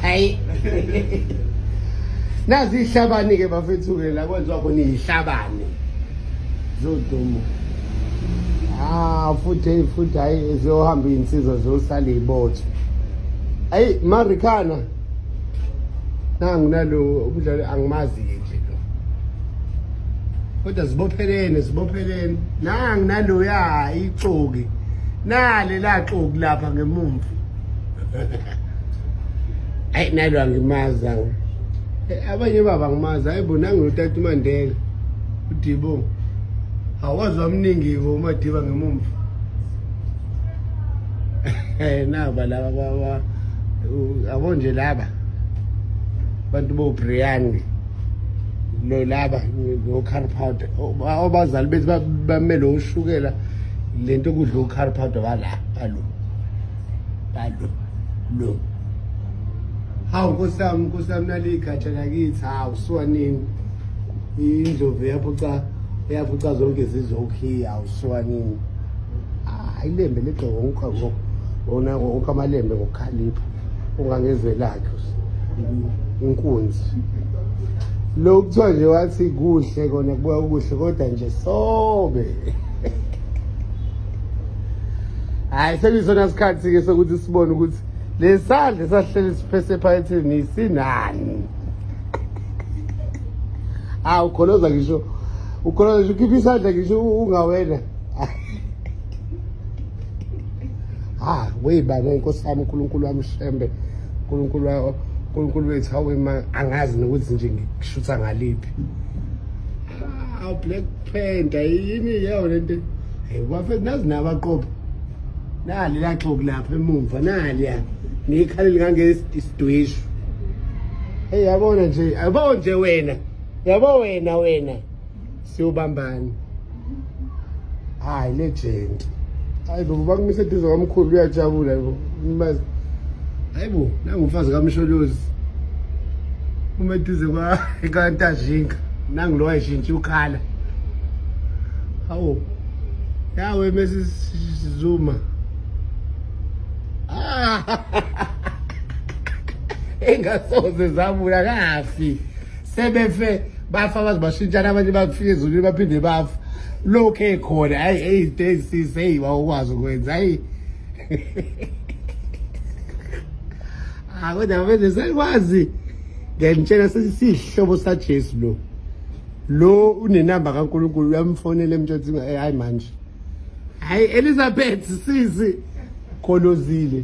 hayi nazi ihlabani ke bafethu ke la kwenziwa khona ihlabani zodumo ah futhi futhi hayi ziyohamba insizwa ziyosala ibotho ayi marikana nangu nalo umdlali angimazi nje lo kodwa zibophelene zibophelene nangu naloya ixoki nale laxoki lapha ngemumva ayi nalo angimazi awu Eh, abanye baba ngimazi hayi bona ngilotata umandela udibo awazi wamningi-ke umadiba ngemumva Eh, naba laba ba- ba- u- yabo nje laba abantu bobriyani lo laba nocarpowder obazali bethu ba- bamele ushukela le nto kudla ucarpowder bala balo balo no hawu nkosi yami nkosi yami naliyigatsha lakithi hawu siwanini indlovu yaphuca yaphuca zonke zizokhiya hawu siwanini ayilembe legqoko wonke ngoku wona wonke amalembe ngokukhalipha ungangezwelakhe inkunzi lo kuthiwa nje wathi kuhle kona kubuya kuhle kodwa nje sobe hayi sekusona sikhathi-ke sokuthi sibone ukuthi lesandla esahleli siphese ephaketheni sinani hawu ah, ukholoza ngisho ukholoza ngisho ukhipha isandla ngisho ungawena ha ah, weyibaba nkosi yami unkulunkulu wami shembe unkulunkulu unkulunkulu wethu hawema angazi nokuthi nje ngikushutha ngaliphi awu ah, black Phenda yini yawo lento. Hey bafethu nazi nabaqobo. Nali laxoku lapha emuva nali ya. Ngikhalile kange isidwishu. Hey yabona nje yabo nje wena. Yabo wena wena. Siwubambani. Hayi legend. Hayi baba bakumise eduze kwamkhulu uyajabula yebo. Mbazi. Hayibo, nangumfazi kaMsholozi. Uma eduze kwa ekantajinga, nangu lo wayishintsha ukhala. Hawo. Yawe mesi Zuma. Ah. Engasoze zabuya kafi. Sebefe bafa bazibashintshana abanye bakufika ezulwini baphinde bafa. Lokho ekhona, hayi hey days sis hey wawukwazi ukwenza. Hayi Ah kodwa mfethu sekwazi ngiyakutshela sesihlobo saJesu lo lo unenamba kaNkulunkulu uyamfonela emtshothi eh, hayi manje hayi Elizabeth sisi kholozile